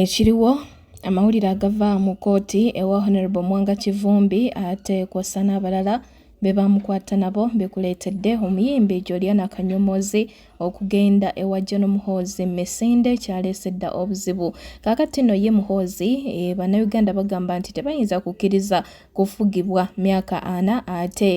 Ekiriwo amawulire agava mu kkooti ewa Honorable Mwanga Kivumbi ate kwossa n'abalala be baamukwata nabo bikuleetedde omuyimbi Juliana Kanyomozi okugenda ewa John Muhoozi mu misinde kyaleese dda obuzibu. Kaakati nno ye Muhoozi e, Bannayuganda bagamba nti tebayinza kukkiriza kufugibwa myaka ana ate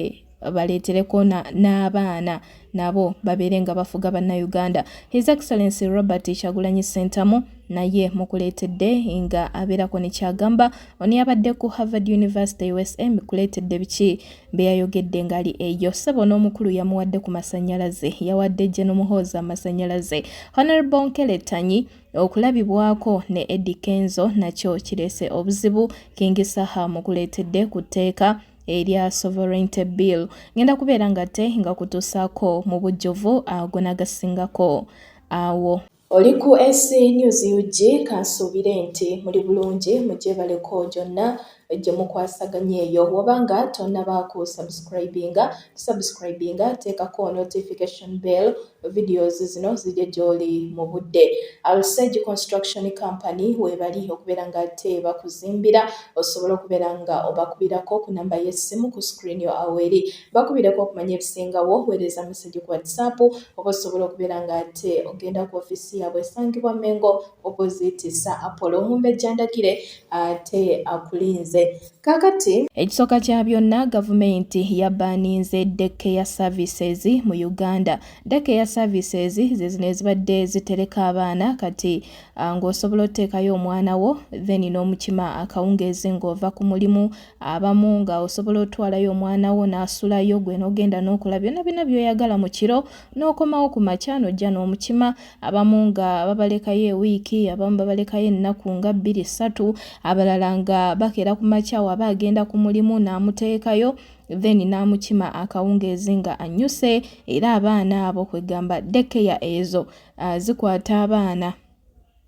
baleetereko n'abaana nabo babeere nga bafuga bannayuganda his excellency robert kyagulanyi ssentamu naye mukuleetedde nga abeerako ne kyagamba ono yabadde ku harvard university usa mukuleetedde biki bye yayogedde ng'ali eyo ssebo n'omukulu yamuwadde ku masannyalaze yawadde gye n'omuhoozi amasannyalaze honorable nkeletanyi okulabibwako ne edi kenzo nakyo kireese obuzibu kingisaha mukuleetedde ku tteeka erya sovereignty bill ngenda kubeera nga te nga kutuusaako mu bujjuvu ago nagasingako awo Oli ku SC News UG kansuubire nti muli bulungi mugyebaleko gyonna gyemukwasaganya eyo woba nga tonabaako subscribinga tusubscribinga teekako notification bell videos zino zijja gy'oli mu budde alsage construction company weebali okubeera nga ate bakuzimbira osobola okubeera nga obakubirako ku namba y'essimu ku screen yo aweri bakubireko okumanya ebisingawo weereza message ku whatsapp oba osobola okubeera nga ate ogenda ku ofiisi yaabwe esangibwa mengo opposite sa apollo omumbejja ndagire ate akulinze Kakati ekisooka kya byonna gavumenti yabbaninze daycare services mu Uganda. Daycare services ze zino ezibadde zitereka abaana kati ah, ng'osobola oteekayo omwana wo then n'omukima akawungeezi ng'ova ku mulimu abamu nga osobola otwalayo omwana wo n'asulayo gwe n'ogenda n'okola byonna byonna by'oyagala mu kiro n'okomawo ku makya n'ojja n'omukima abamu nga babalekayo ewiiki abamu babalekayo ennaku nga bbiri ssatu abalala nga bakeera ku makya waba agenda ku mulimu n'amuteekayo then n'amukima akawungeezi nga anyuse era abaana abo kwegamba dekeya ezo uh, zikwata abaana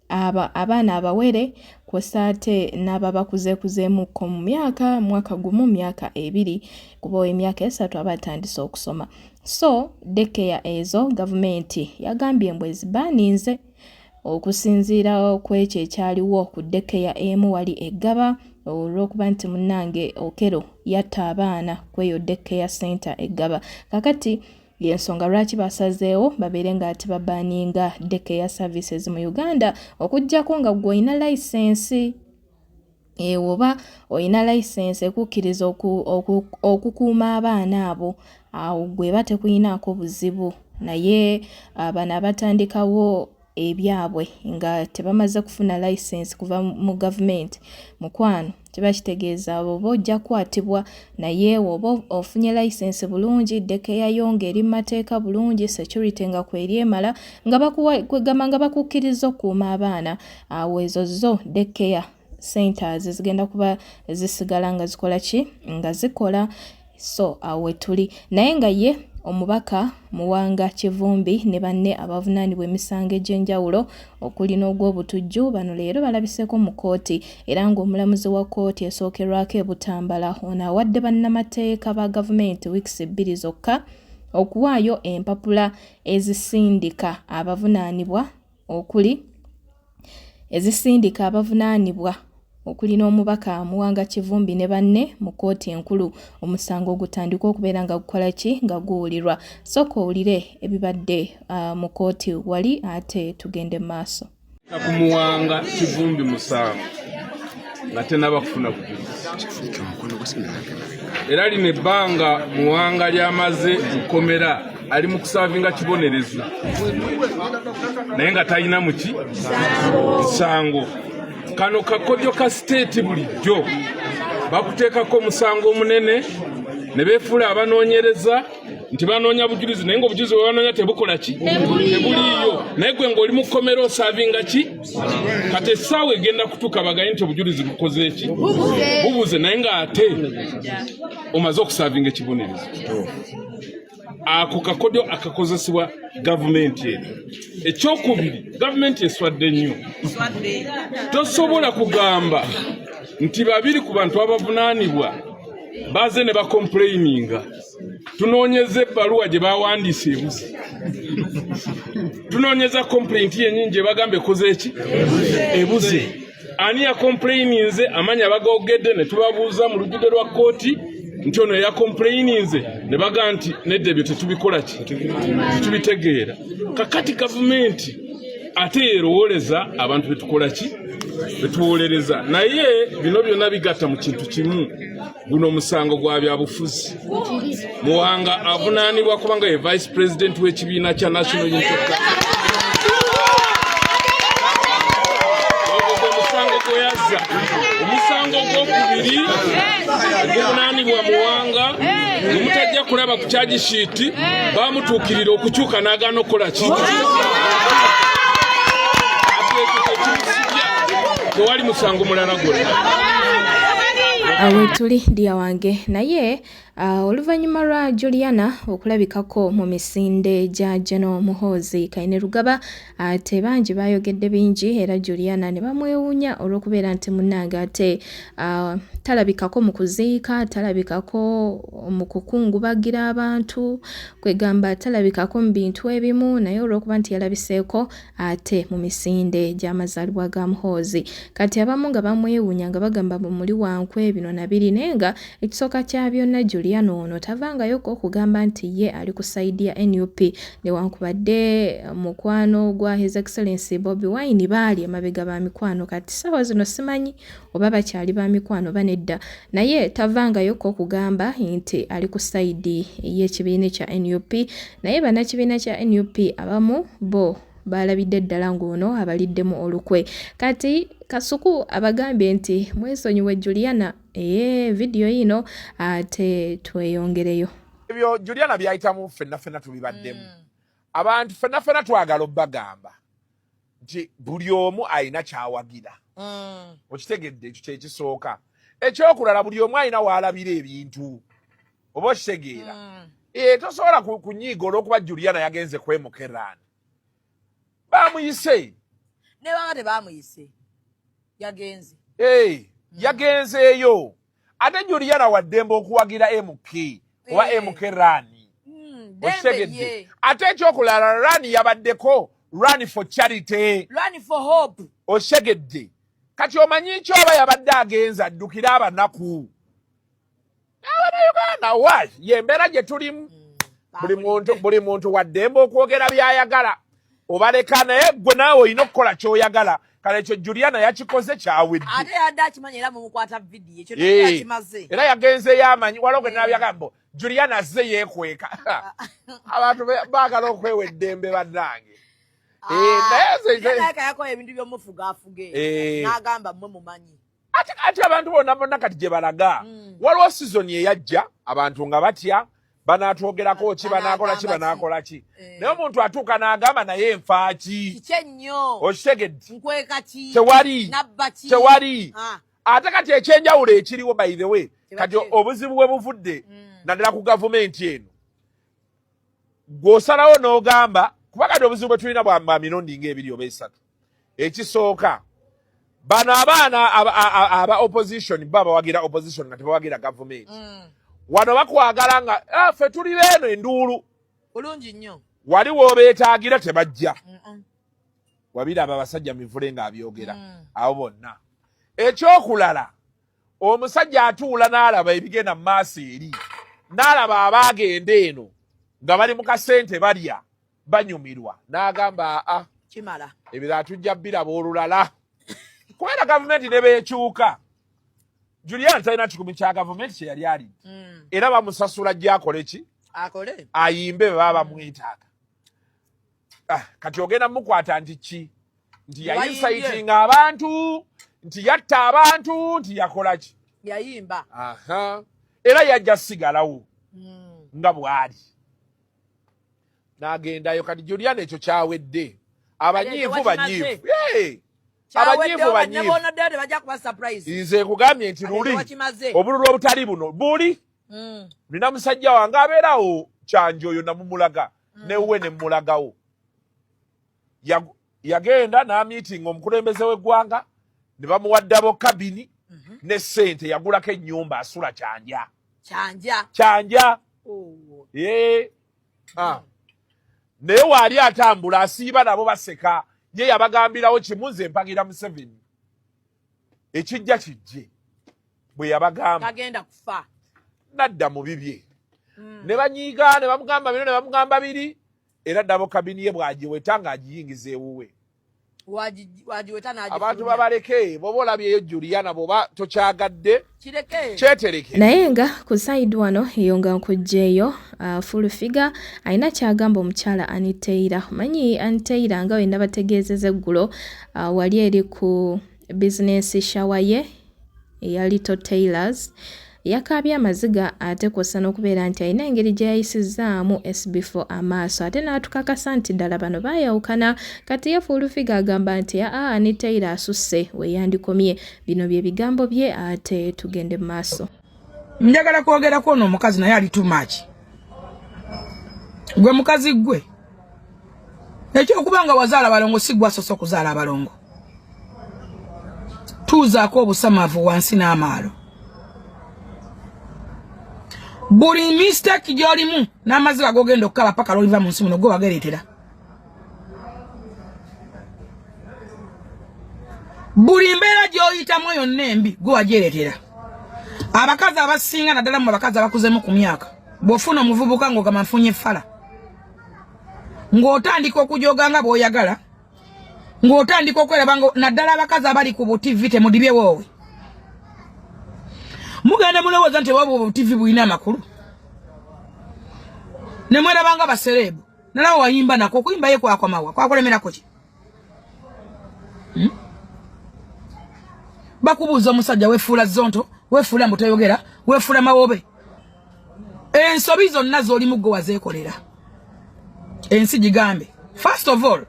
aba abaana abawere kwosa ate n'ababakuzekuzeemukko mu myaka mwaka gumu myaka ebiri kuba emyaka esatu aba atandise okusoma so dekeya ezo gavumenti yagambye mbu ezibaaninze okusinziira kwekyo ekyaliwo ku dekeya emu wali eggaba olwokuba nti munange okero yatta abaana kweyo dekeya center eggaba kakati yensonga lwaki basazeewo babeere nga ati babaninga dekeya services mu uganda okujjako nga gweolina layisensi Eh, oba olina layisensi ekukkiriza okukuuma abaana abo awo gwe eba tekuyinaako buzibu naye ah, bano abatandikawo ebyabwe nga tebamaze kufuna layisensi kuva mu gavumenti mukwano kiba kitegeeza oba ojja kukwatibwa naye oba ofunye layisensi bulungi dekeyayo ng'eri mu mateeka bulungi security nga kweri emala nga bakuwagamba nga bakukkiriza okukuuma abaana awo ezo zo dekeya centers zigenda kuba zisigala nga zikola ki nga zikola so awo wetuli naye nga ye omubaka muwanga kivumbi ne banne abavunaanibwa emisango egy'enjawulo okuli n'ogw'obutujju bano leero balabiseeko mu kkooti era ng'omulamuzi wa kkooti esookerwako e butambala ono awadde bannamateeka ba gavumenti wiikisi ebbiri zokka okuwaayo empapula ezisindika abavunaanibwa okuli ezisindika abavunaanibwa okuli n'omubaka Muwanga Kivumbi ne banne mu kkooti enkulu omusango ogutandika okubeera nga gukola ki nga guwulirwa sooka owulire ebibadde uh, mu kkooti wali ate tugende mu maaso ku Muwanga Kivumbi musango nga tenaba kufuna bujulizi era lino ebbanga muwanga lyamaze mukomera ali mu kusavinga kibonerezo naye nga talina muki musango kano kakodyo ka siteeti bulijjo bakuteekako omusango omunene ne beefuula abanoonyereza nti banoonya bujulizi naye ngaobujulizi bwebanoonya tebukola ki tebuliiyo naye gwe ngaoli mu kkomera osavinga ki kati essaawa egenda kutuuka bagaye nti obujulizi bukoze eki bubuze naye ng'ate omaze okusavinga ekibonerezo ako kakodyo akakozesebwa gavumenti eno ekyokubiri gavumenti eswadde nnyo tosobola kugamba nti babiri ku bantu abavunaanibwa baze ne bakompuleyininga tunoonyeza ebbaluwa gye baawandiisa ebuzi tunoonyeza kompulenti yenyini gye bagamba ekoze eki ebuze ani yakompulayininze amanya bagogedde ne tubabuuza mu lujjudde lwa kkooti nti ono yakompulayininze ne baga nti nedda ebyo tetubikola ki tetubitegeera kakati gavumenti ate yerowooleza abantu betukola ki betuwolereza naye bino byonna bigatta mu kintu kimu guno omusango gwa byabufuzi muwanga avunaanibwa kubanga ye vice president w'ekibiina kya national unity omusango gweyazza omusango gwokubiri guvunaanibwa muwanga omutajja kulaba ku kyagisiiti bamutuukirira okukyuka n'agaana okukola ki tewali musango mulala gwonna awetuli dia wange naye uh, oluvannyuma lwa juliana okulabikako mu misinde gya geno muhoozi kaine lugaba ate uh, bangi baayogedde bingi era juliana ne bamwewuunya olw'okubeera nti munnange ate uh, talabikako mu kuziika talabikako mu kukungubagira abantu kwegamba talabikako mu bintu ebimu naye olw'okuba nti yalabiseeko ate mu misinde gy'amazaalibwa ga Muhoozi kati abamu nga bamwewuunya nga bagamba mbu muli wa nkwe bino na biri naye nga ekisooka kya byonna Juliana ono tavangayoko okugamba nti ye ali ku sayidi ya nup newankubadde mukwano gwa his excellency Bobi Wine baali emabega ba mikwano kati ssaawa zino simanyi oba bakyali ba mikwano oba nedda naye tavangayo ko kugamba nti ali ku sayidi ey'ekibiina kya nup naye bannakibiina kya nup abamu bo baalabidde ddala ng'ono abaliddemu olukwe kati kasuku abagambye nti mwesonyiwe juliana ee vidiyo yino ate tweyongereyo ebyo juliana byayitamu ffenna ffenna tubibaddemu mm. abantu ffenna ffenna twagala obbagamba nti buli omu alina kyawagira mm. okitegedde ekyo kyekisooka ekyokulala buli omu alina waalabira ebintu oba okitegeera mm. e, tosobola kunyiiga olwokuba juliana yagenze kwemukeran bamuyise nebanga tebamuyise yagenze e, yagenzeeyo ate juliana waddembe okuwagira mk oba eh. mk rani hmm, okitegedde ate ekyokulala rani yabaddeko run for charity run for hope okitegedde kati omanyi nki oba yabadde agenza addukire abanaku abanauganda wa yembeera gye tulimu hmm, buli muntu waddembe okwogera byayagala obaleka naye gwe naawe olina okukola kyoyagala kale ekyo juliana yakikoze kyawedde ate yadde akimanyi era mumukwata vidiyo ekyo nakimaze eh, era yagenzeyo amanyi waliwo gwe nabyagambo eh. juliana azze yekweka abantu baagala okwewa eddembe bannange ah, eh, naye yakola ebintu byomufuga afuge nagamba mwe mumanyi ate kati abantu bona bona kati gye balaga mm. waliwo sizoni eyajja abantu nga batya banaatwogerako ki banaakola ki banaakola ki eh. naye omuntu atuuka n'agamba naye enfa ki okitegedde tewali tewali ah. ate kati ekyenjawulo ekiriwo by the way kati obuzibu bwe buvudde mm. naddala ku gavumenti eno gw'osalawo n'ogamba kuba kati obuzibu bwe tulina bwa mirundi ng'ebiri oba esatu ekisooka bano abaana aba opposition bo abawagira opposition nga tebawagira gavumenti mm. wano bakwagala nga ah, fe tuli beeno enduulu bulungi nnyo wali wobeetaagira tebajja wabiraba abasajja mivule ng'abyogera mm. abo bonna ekyokulala omusajja atuula n'alaba ebigenda mu maaso eri n'alaba abaagenda eno nga bali mu kasente balya banyumirwa n'agamba aa kimala ebirala tujja biraba olulala kubera gavumenti ne beekyuka julian talina kikumi kya gavumenti kye yali ali mm. era bamusasula gyakole ki akole ayimbe bwe baba bamwetaaga ah, kati ogenda mukwata nti ki nti yayisaitinga abantu nti yatta abantu nti yakola ki yayimba era yajja sigalawo mm. nga bwali nagendayo kati juliana ekyo kyawedde abanyiivu banyiivu abanyiivu banyiivu nze nkugambye nti luli obululu obutali buno buli mm. nina musajja wange abeerawo kyanjo oyo namumulaga mm. newuwe nemulagawo yagenda namiitinga omukulembeze w'eggwanga ne bamuwaddabo kabini mhm. ne sente yagulako ennyumba asula kyanja kyanja kyanja oh. ah. naye waali atambula asiiba nabo baseka ye yabagambirawo kimu nze mpagira museveni ekijja kijje bwe yabagamba nadda mu bibye mm. ne banyiiga ne bamugamba bino ne bamugamba biri era dabo kabini ye bwagiweta ng'agiyingiza ewuwe wagiweta n'agifulumya abantu babaleke bwoba olabyeyo Juliana bwoba tokyagadde naye nga ku side wano eyo nga nkugyeyo uh, full figure alina kyagamba omukyala aniteira omanyi aniteira nga wenabategeezeza eggulo uh, wali eri ku Bizinensi shawa ye eya Little Tailors yakaabye amaziga ate kwossa n'okubeera nti alina engeri gye yayisizzaamu SB4 amaaso ate n'atukakasa nti ddala bano baayawukana kati ye Fullfiga agamba nti aa ne Taylor asusse we yandikomye. Bino bye bigambo bye ate tugende mu maaso. njagala kwogera kwono omukazi naye ali too much gwe mukazi gwe ekyokuba nga wazaala balongo si gwasoose okuzaala abalongo tuuzaako obusamavu wansi n'amaalo buli mistake gyolimu n'amaziba gogenda okukaba paka lwoliva mu nsi muno gwe wagereetera buli mbeera gy'oyitamu yonna embi gwe wagyeretera abakazi abasinga naddala mu abakazi abakuzemu ku myaka bw'ofuna omuvubuka ng'ogamba nfunye fala ng'otandika okujoga nga bw'oyagala ng'otandika okweraba nga naddala abakazi abali ku butivi temudibye woowe mugenda mulowooza nti obwa butivi bulina amakulu ne mweraba nga basereebu nala wayimba nako okuyimba ye kwakomawa kwakulemerako ki hmm? bakubuuza omusajja wefuula zonto wefuula mbu toyogera wefuula mawobe ensobi zonna z'oli muggo wazeekolera ensi gigambe first of all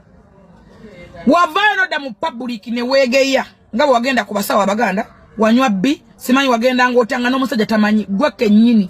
wavaayo nodda mu public ne weegeya nga bwe wagenda ku basawo abaganda wanywa bbi simanyi wagenda ng'otya nga n'omusajja tamanyi gwe kennyini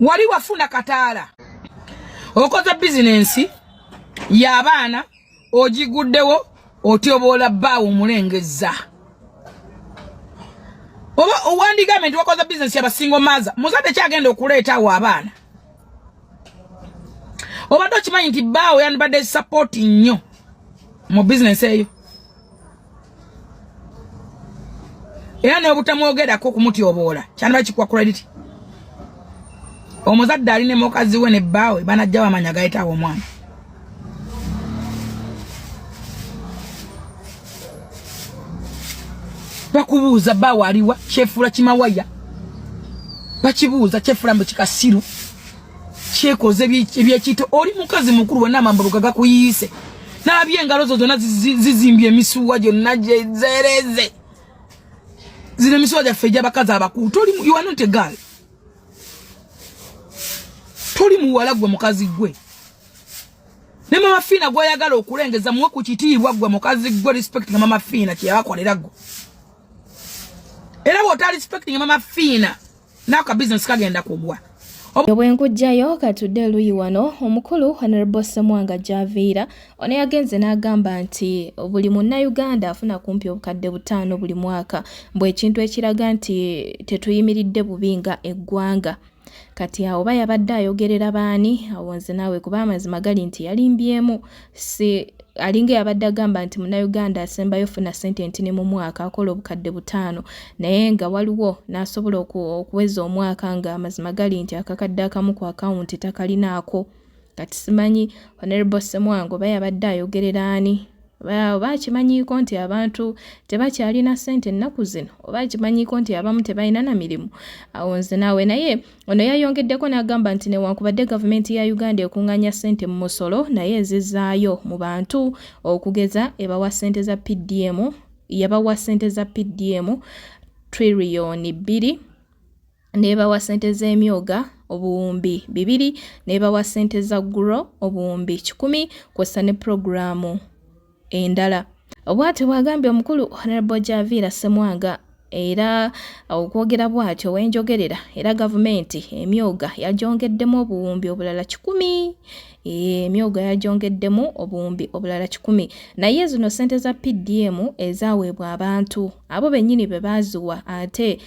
wali wafuna kataala okoze bizinensi y'abaana ogiguddewo otyoboola bbaawo omulengezza oba owandigambe nti wakoze bizinensi yabasingo maaza muzadde kyagenda okuleetaawo abaana obadde okimanyi nti bbaawo yandibadde sapoti nnyo mu bizinensi eyo era n'obutamwogerako okumutyoboola kyandiba kikuwa credit omuzadde ali ne mukazi we ne bbaawe banajja bamanya gayitaawo omwana bakubuuza bbaawe aliwa kyefuula kimawaya bakibuuza kyefuula mbu kikasiru kyekoze ebyekiyita oli mukazi mukulu wena amambaluga gakuyiise nabye engalo zo zonna zizimbye emisuwa gyonna gyezereze zino emisuwa gyaffe egyabakazi abakulu toli iwanonte gal toli muwala gwe mukazi gwe ne mama fiina gwayagala okulengeza muwe ku kitiibwa gwe mukazi gwe respect nga mama fiina kyeyabakolera gwe era bwota respect nga mama fiina nako ka bizinesi kagenda kugwa obwenkujjayo katudde eluyi wano omukulu honorable semwanga javiira ono yagenze n'agamba nti buli munnayuganda afuna kumpi obukadde butaano buli mwaka mbw ekintu ekiraga nti tetuyimiridde bubi nga eggwanga kati awo oba yabadde ayogerera baani awo nze naawe kuba amazima gali nti yalimbyemu si alinga yabadde agamba nti munauganda asembayo funa sente ntini mu mwaka akola obukadde butaano naye nga waliwo n'asobola okuweza omwaka nga amazima gali nti akakadde akamu ku akawunti takalinaako kati simanyi honorable semwango oba yabadde ayogerera ani oba akimanyiiko nti abantu tebakyalina sente ennaku zino oba akimanyiiko nti abamu tebalina na mirimu awo nze naawe naye Ono yayongeddeko n'agamba nti newankubadde gavumenti ya Uganda ekunganya ssente mu musolo naye ezizaayo mu bantu okugeza ebawa ssente za PDM yabawa ssente za PDM triliyoni bbiri nebawa ssente z'emyoga obuwumbi bibiri nebawa ssente za guro obuwumbi kikumi kwossa ne pulogulaamu endala obwati bwagambye omukulu honorable javiira semwanga era okwogera bwatyo wenjogerera era gavumenti emyoga yajongeddemu obuwumbi obulala kikumi emyoga yajongeddemu obuwumbi obulala kikumi naye zino sente za pdm ezaweebwa abantu abo bennyini be baaziwa ate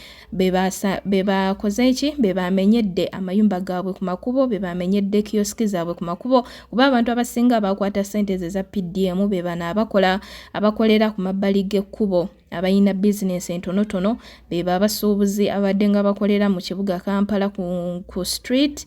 bebakoze eki bebamenyedde amayumba gaabwe ku makubo bebamenyedde kiyosiki zaabwe ku makubo kuba abantu abasinga bakwata sente ze za pdm bebano abakola abakolera ku mabbali g'ekkubo abalina bizinensi entonotono bebo abasuubuzi abadde nga bakolera mu kibuga kampala ku, ku street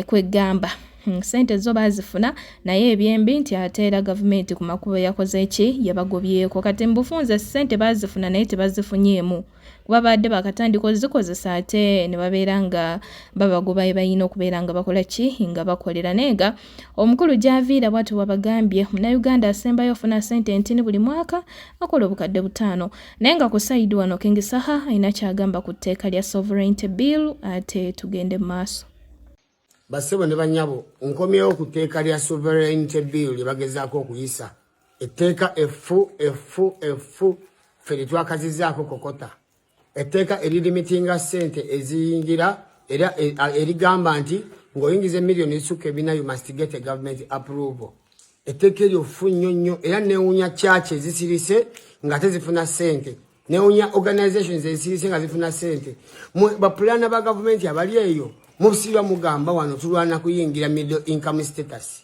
kwegamba Hmm, sente zo bazifuna naye ebyembi nti ate era gavumenti ku makubo yakoze ki yabagobyeko kati mubufunze sente bazifuna naye tebazifunyeemu kuba baadde bakatandika ozikozesa ate ne babeera nga babagoba ebalina okubeera nga bakola ki nga bakolera naye nga omukulu gyaviira bwati wabagambye munauganda asembayo ofuna sente entini buli mwaka akola obukadde butaano naye nga ku saidi wano kengisaha alina kyagamba ku tteeka lya sovereignty bill ate tugende mu maaso Bassebo ne banyabo, nkomyewo ku tteeka lya sovereignty bill lye bagezaako okuyisa. Etteeka effu effu effu ffe lye twakazizaako kokota. Etteeka eririmitinga ssente eziyingira era e, erigamba nti ng'oyingiza emiliyoni ezisukka ebina you must get a government approval. Etteeka eryo ffu nnyo nnyo era neewunya kyaki ezisirise ng'ate zifuna ssente. newunya organizations ezisirise nga zifuna sente bapulana ba gavumenti abali eyo mubusirwa mugamba wano tulwana kuyingira middle income status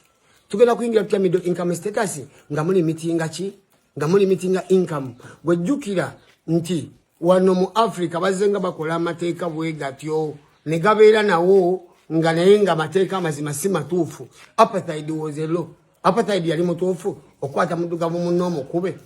tugenda kuyingira tutya middle income status nga muli mitinga ki nga muli mitinga income gwejjukira nti wano mu africa bazze nga bakola amateeka bwegatyo ne gabeera nawo nga naye nga amateeka amazima si matuufu apathaid was a law apathaid yali mutuufu okukwata muddugavu munno omukube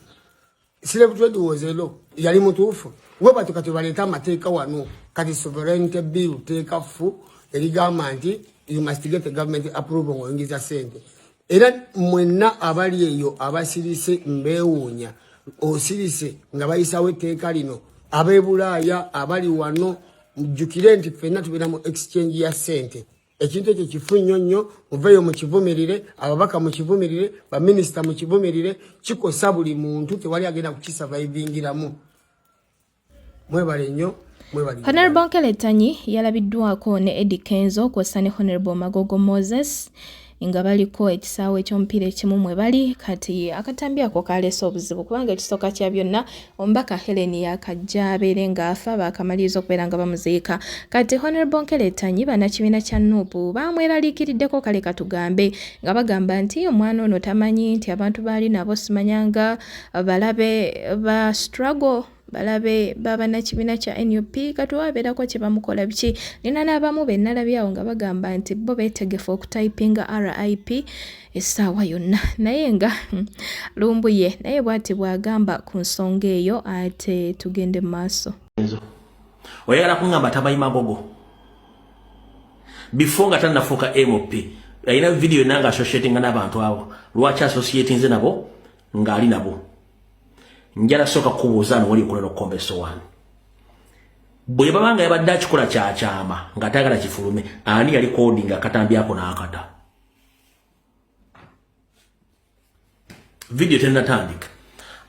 Slave trade was a law. Yali mutuufu. We batu kati baleta amateeka wano. Kati sovereignty bill teeka fu. Yali gamba nti you must get the government approval ngo ingiza sente. Era mwenna abali eyo abasirise mbewunya. Osirise nga bayisawo etteeka lino. Abebulaaya abali wano mjukire nti fenna tubera mu exchange ya sente. ekintu ekyo kifu nnyo nnyo muveeyo mukivumirire ababaka mukivumirire baminisita mukivumirire kikosa buli muntu tewali agenda kukisavaivingiramu mwebale nnyo honorable nkeletanyi yalabiddwako ne edi kenzo kwossa ne honorable magogo moses nga baliko ekisaawe ky'omupiira ekimu mwe bali kati akatambi ako kaleese obuzibu kubanga ekisooka kya byonna Omubaka Hellen yakajja abeere nga afa baakamaliriza okubeera nga bamuziika. Kati Honorable Nkeletanyi bannakibiina kya nup baamweraliikiriddeko kale katugambe nga bagamba nti omwana ono tamanyi nti abantu baali nabo simanyanga balabe ba struggle balabe babanakibiina kya nup kati wabeerako kyebamukola biki nina n'abamu be nalabyawo nga bagamba nti bo betegefu okutayipinga rip essaawa yonna naye nga hmm, lumbuye naye bwati bwagamba ku nsonga eyo ate tugende mu maaso oyagala kungamba tamanyi magogo before nga tanafuuka mp alina vidiyo yonna nga associatinga n'abantu abo lwaki associatinze nabo ng'ali nabo njala sooka kukubuuza nowali okola nokukomba esowaani bwe baba nga yabadde akikola kyakyama ng'atayagala kifulume ani yali kodinga akatambi ako n'akata video tenatandika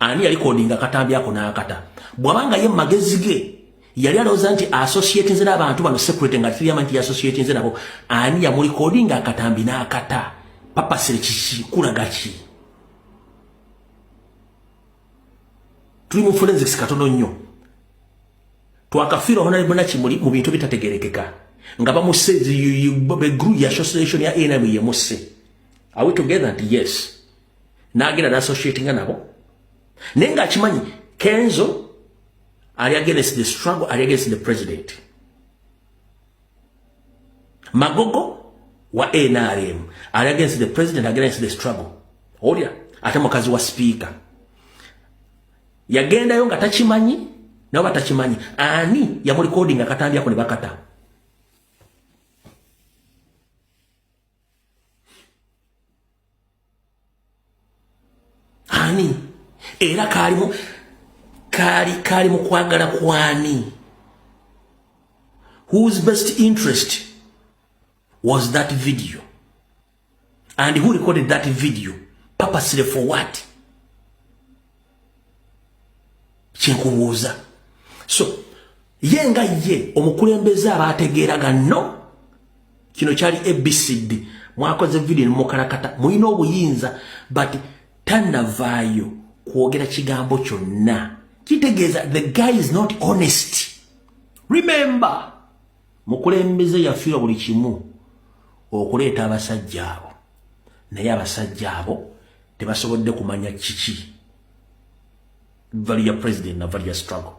ani yali kodinga katambi ako nakata bwabanga ye magezi ge yali alowooza nti associate nze n'abantu bano secret nga tuyama nti associate nze nabo ani yamuli kodinga akatambi nakata papa sere kiki kulaga ki tuli mu forensics katono nnyo twakafira hona ibuna kimuli mu bintu bitategerekeka nga bamusse the group ya association ya NM ye musse are we together and yes nagenda na associate nga nabo nenga akimanyi Kenzo are against the struggle are against the president magogo wa NRM are against the president against the struggle olya ate mukazi wa speaker yagendayo nga takimanyi nabo batakimanyi ani yamulikodinga akatambi ako ne bakata ani era kaalimu kaali kaali mu kwagala kwani whose best interest was that video and who recorded that video purposely for what kyenkubuuza so ye nga ye omukulembeze aba ategeeraga no kino kyali abcd mwakoze video nemukalakata mulina obuyinza but tanavaayo kwogera kigambo kyonna kitegeeza the guy is not honest remember mukulembeze yafiirwa buli kimu okuleeta abasajja abo naye abasajja abo tebasobodde kumanya kiki valu ya president na valu ya struggle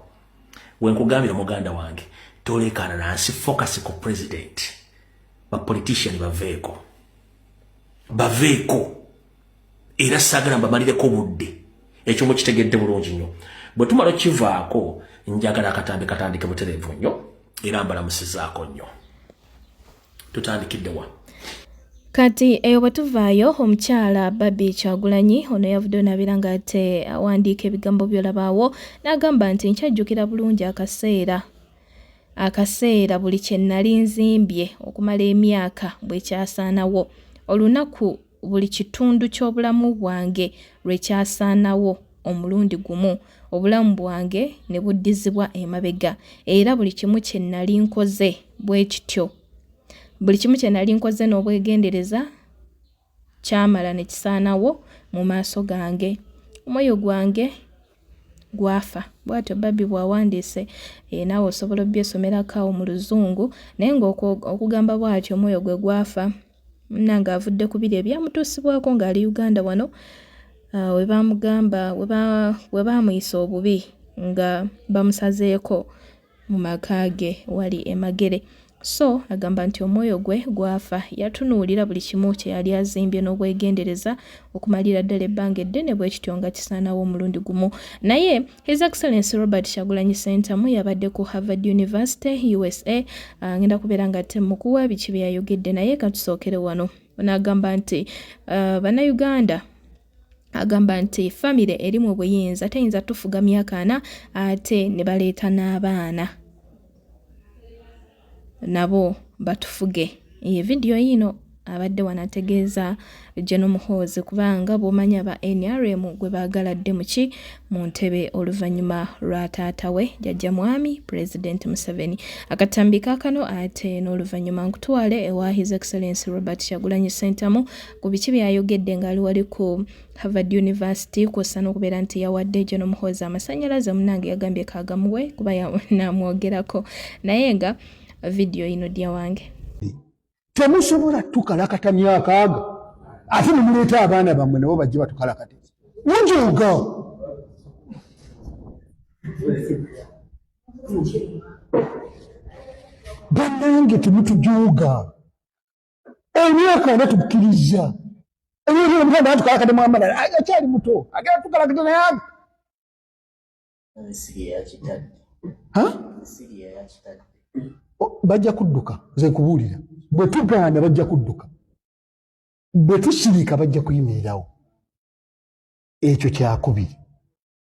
wenkugambira muganda wange tolekana nansi focus ku president bapolitician baveeko baveeko era sagala mbamalireko budde ekyo mukitegedde bulungi nnyo bwe tumala okivaako njagala akatambi katandike butereevu nnyo era mbalamusizaako nnyo tutandikidde wa kati eyo bwe tuvaayo omukyala babi kyagulanyi ono yavudde onabeera nga te awandiika ebigambo byolabaawo n'agamba nti nkyajjukira bulungi akaseera akaseera buli kye nnali nzimbye okumala emyaka bwe kyasaanawo olunaku buli kitundu ky'obulamu bwange lwe kyasaanawo omulundi gumu, obulamu bwange ne buddizibwa emabega, era buli kimu kye nnali nkoze bwe kityo. Buli kimu kye nnali nkoze n'obwegendereza kyamala ne kisaanawo mu maaso gange. Omwoyo gwange gwafa bwatyo babbi bwawandiise eh, naawe osobola obyesomerako awo mu luzungu naye ngaokugamba bwatyo omwoyo gwe gwafa munnange avudde ku biri ebyamutuusibwako ng'ali uganda wano ah, we baamugamba we baamuyisa obubi nga bamusazeeko mu maka ge wali emagere so agamba nti omwoyo gwe gwafa yatunuulira buli kimu kye yali azimbye n'obwegendereza okumalira ddala ebbanga eddene bwe kityo nga kisaanawo omulundi gumu naye His Excellency Robert Shagulanyi Sentamu yabadde ku Harvard University USA ah, ngenda kubeera nga temukuwa biki bye yayogedde naye katusookere wano ono agamba nti uh, bannayuganda agamba nti famire eri mu buyinza teyinza tufuga myaka ana ate ne baleeta n'abaana nabo batufuge ye vidiyo yiino abadde wanategeeza General Muhoozi kubanga bwomanya ba NRM gwe baagala dde muki mu ntebe oluvannyuma lwa taata we jajja mwami President Museveni akatambi kakano ate n'oluvannyuma nkutwale ewa His Excellency Robert Kyagulanyi Ssentamu ku biki byayogedde ng'ali wali ku Harvard University kwossa n'okubeera nti yawadde gyo n'omuhoozi amasanyalaze omunange yagambye kagamuwe kuba namwogerako naye nga vidiyo yino dya wange temusobola tukalakata myaka ago ate nemuleeta abaana bammwe nabo bajje batukalakate njoga banange temutujuuga emyaka ana tukkiriza ebyomuganda anti kalakadde mwamalala akyali muto agenda tukalakadde naye bajja kudduka nze nkubuulira bwe tugaana bajja kudduka bwe tusirika bajja kuyimirirawo ekyo kyakubiri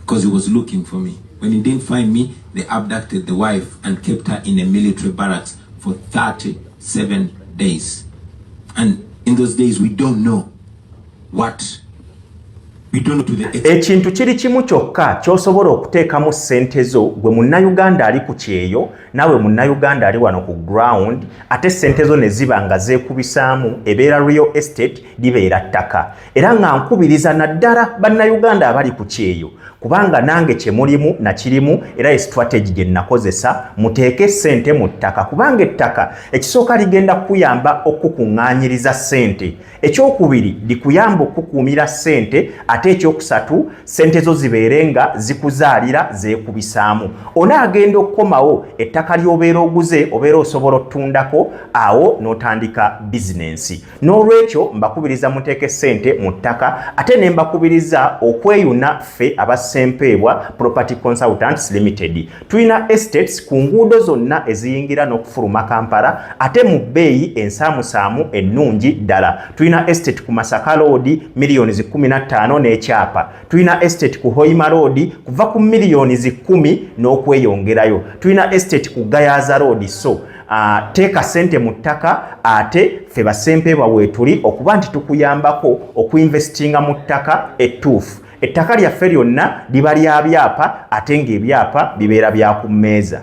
because he was looking for me. When he didn't find me, they abducted the wife and kept her in a military barracks for 37 days. And in those days, we don't know what ekintu kiri kimu kyokka ky'osobola okuteekamu ssente zo gwe munnayuganda ali ku kyeyo naawe munnayuganda ali wano ku ground ate ssente zo ne ziba nga zeekubisaamu ebeera real estate libeera ttaka era nga nkubiriza naddala bannayuganda abali ku kyeyo kubanga nange kyemulimu nakirimu era ye strategy gye nnakozesa muteeke ssente mu ttaka kubanga ettaka ekisooka ligenda kukuyamba okukukuŋŋaanyiriza ssente ekyokubiri likuyamba okukuumira ssente ate ekyokusatu ssente zo zibeere nga zikuzaalira zeekubisaamu onaagenda okukomawo ettaka ly'obeera oguze obeera osobola otundako awo n'otandika bizinensi N'olwekyo mbakubiriza muteeke ssente mu ttaka ate ne mbakubiriza okweyuna ffe aba Ssempeebwa Property Consultants Limited. Tulina estates ku nguudo zonna eziyingira n'okufuluma Kampala ate mu bbeeyi ensaamusaamu ennungi ddala. Tulina estate ku Masaka Road miliyoni zi kkumi na ttaano n'ekyapa. Tulina estate ku Hoima Road kuva ku miliyoni zi kkumi n'okweyongerayo. Tulina estate ku Gayaza Road so teeka sente mu ttaka ate ffe basempeebwa weetuli okuba nti tukuyambako okuinvestinga mu ttaka ettuufu ettaka lyaffe lyonna liba lya byapa ate ng'ebyapa bibeera bya ku mmeeza